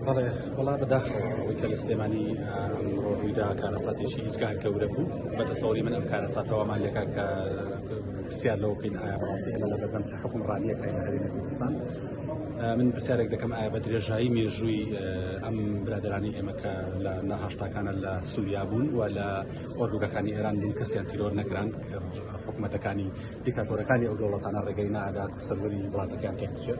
بەڵێ وڵا بەداخەوە ئەوەی کە لە سلێمانی ئەمڕۆ ڕوویدا کارەساتێکی هیچکار گەورە بوو بە دەسەوەری من ئەم کارەساتەوەمان لەکە کە پرسیار لەوە بکەین ئایا ڕاستی ئەمە لە بەردەم چ حکومڕانیەکە لە هەرێمی کوردستان من پرسیارێک دەکەم ئایا بە درێژایی مێژووی ئەم برادرانی ئێمە کە لە نەهشتاکانە لە سووریا بوون و لە ئۆردوگەکانی ئێران بوون کەسیان تیرۆر نەکران حکوومەتەکانی دیکاتۆرەکانی ئەو دەوڵەتانە ڕێگەی نادا سەروەری وڵاتەکان تێک بچێت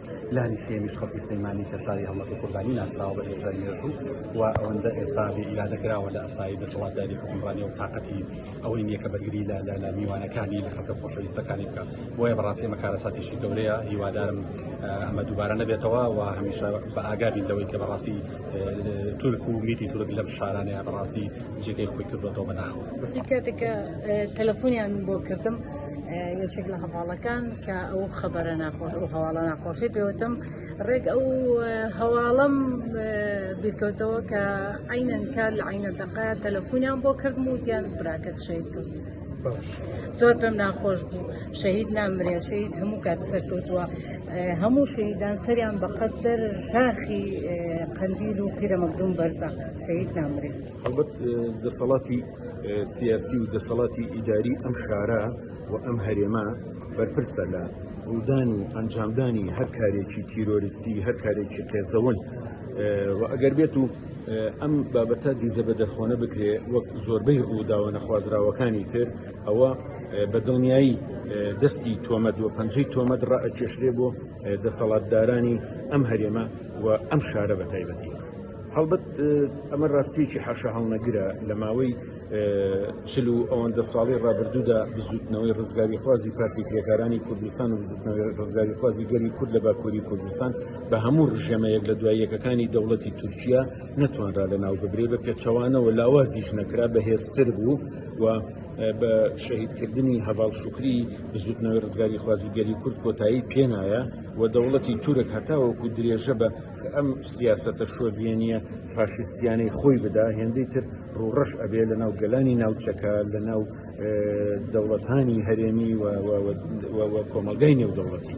لانی سێیەمیش خەڵکی سلێمانی کە شاری هەڵمەتی قوربانی ناسراوە بە هێژای مێژوو و ئەوەندە ئێستا ئیرادە کراوە لە ئەسایی دەسەڵاتداری حکومڕانی و تااقەتی ئەوەی نییە کە بەرگری لە لە میوانەکانی لە خەسە خۆشەویستەکانی بکە بۆیە بەڕاستی ئەمە کارەساتێکی گەورەیە هیوادارم ئەمە دووبارە نەبێتەوە و هەمیشە بە ئاگابین لەوەی کە بەڕاستی تورک و میتی تورک لەم شارانەیە بەڕاستی جێگەی خۆی کردوەوە بە ناخۆ کاتێکە تەلەفۆنیان بۆ کردم یەکێک لە هەواڵەکان کە ئەو خەبەرە ناخۆش ئەو هەواڵە ناخۆشی پێوتم ڕێک ئەو هەواڵم بیرکەوتەوە کە عینەن کار لە عینە دەقا تەلەفونیان بۆ کردم و دیان براکەت شەید کرد زۆر پێم ناخۆش بوو شەهید نامرێ شەید هەموو کات سەرکەوتووە هەموو شەیدان سەریان بەقەتەر شاخی قندیل و پیرەمەگدون بەرزە شەید نامرێت هەڵبەت دەسەڵاتی سیاسی و دەسەڵاتی ئیداری ئەم شارە و ئەم هەرێمە بەرپرسە لە ڕوودان و ئەنجامدانی هەر کارێکی تیرۆریستی هەر کارێکی قێزەون و ئەگەر بێت و ئەم بابەتە دیزە بە دەرخۆنە بکرێ وەک زۆربەی ڕووداوە نەخوازراوەکانی تر ئەوە بە دڵنیایی دەستی تۆمەد و پەنجەی تۆمەد ڕائەکێشرێ بۆ دەسەڵاتدارانی ئەم هەرێمە و ئەم شارە بە تایبەتی. هەڵبەت ئەمە ڕاستیەکی حەشە هەڵنەگرە لە ماوەی چل و ئەوەندە ساڵی ڕابردوودا بزوتنەوەی ڕزگاری خوازی پارتی کرێکارانی کوردستان و بزوتنەوەی ڕزگاری خوازی گەلی کورد لە باکووری کوردستان بە هەموو ڕژەمەیەک لە دواییەکەکانی دەوڵەتی تورکیا نەتوانرا لە ناو ببرێ بە پێچەوانەوە لاوازیش نەکرا بەهێزتر بوو و بە شەهیدکردنی هەواڵ شکری بزوتنەوەی ڕزگاری خوازی گەلی کورد کۆتایی پێنایە و دەوڵەتی تورک هەتاوەکو درێژە بە کە ئەم سیاسەتە شۆڤێنیە فاشیستیانەی خۆی بدا هێندەی تر ڕوڕەش ئەبێ لە ناو گەلانی ناوچەکە لە ناو دەوڵەتانی هەرێمی کۆمەلگای نێودەوڵەتی.